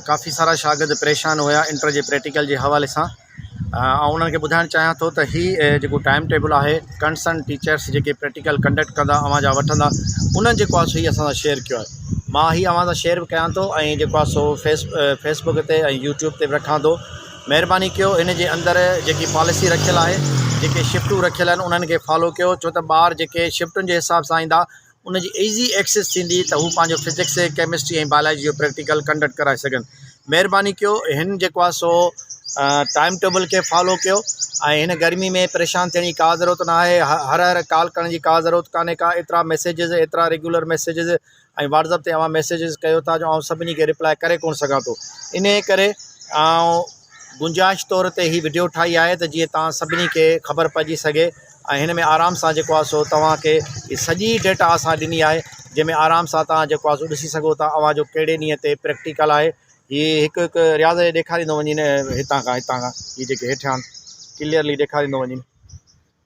ڪافي سارا شاگرد پريشان هيا انٽر جي پريٽيڪل جي حوالي سان آئون انهن کي ٻڌائڻ چاهيان ٿو ته هي جيڪو ٽائيم ٽيبل آهي ڪنسرن ٽيچرس جيڪي پريٽيڪل ڪنڊڪٽ ڪندا اوهان جا وٺندا انهن جيڪو آهي سو هي اسان سان شيئر ڪيو آهي مان هي اوهان سان شيئر به ڪيان ٿو ۽ جيڪو آهي سو فيس فيس بڪ تي ۽ يوٽيوب تي به رکان ٿو مهرباني ڪيو ان جي اندر جيڪي پاليسي رکيل آهي جيڪي شفٽون رکيل آهن انهن کي فالو ڪيو ڇو ته ٻار جيڪي شفٽن جي حساب سان ايندا ان جي ايزي ايڪسيس ٿيندي ته هو پنهنجو فزڪس، ڪيمسٽري ۽ بايولاجي جو پريڪٽيڪل ڪنڊڪٽ ڪرائي سگهن. مهرباني ڪيو هن جيڪو آهي سو ٽائيم ٽيبل کي فالو ڪيو ۽ هن گرمي ۾ پريشان ٿيڻ جي ڪا ضرورت ناهي. هر هر ڪال ڪرڻ جي ڪا ضرورت ڪانهي ڪا ايترا ميسيجز ايترا ريگيولر ميسيجز ۽ واٽسپ تي اوهان ميسيجز ڪيو ٿا جو آئون سڀني کي ريپلائي ڪري ڪونه سگهان ٿو انهيء ڪري آئون گنجائش طور تي هي وڊيو ٺاهي آهي ته جيئن توهان سڀني کي خبر پئجي سگهي ۽ هن ۾ آرام سان جيڪو آهي سو توهان کي هي سڄي ڊيٽا اسان ڏني آهي جنهن ۾ آرام سان توهان جيڪو آهي سو ڏسي سگهو ٿا اوهان جو ڪهڙي ڏينهن تي پريڪٽيڪل آهي هي هڪ هڪ رياض جي ڏيکاريندو وڃين هتان کان هتان کان هي جيڪي هيٺيان ڪليئرلي ڏيکاريندو وڃين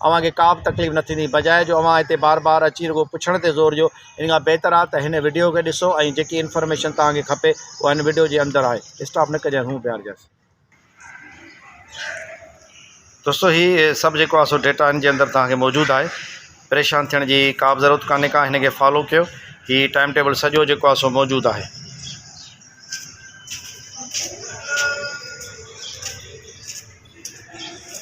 اوهان کي ڪابه تڪليف نه ٿيندي بجاء جو اوهان هتي بار بار اچي رڳو پڇڻ تي زور ڏيو ان کان بهتر آهي ته هن وڊيو کي ڏسو ۽ جيڪي انفارميشن توهان کي کپي اها هن وڊيو جي اندر آهي اسٽاپ نه ڪجانس هون بيهارجانس. دوستو هي سڀ جيڪو آهي سو ڊيٽا هن جي اندر توهان کي موجود آهي پريشان ٿيڻ جي ڪابه ضرورت ڪانهي ڪا هن کي فالو ڪيو هي ٽائيم ٽيبل سڄو جيڪو آهي سو موجود آهي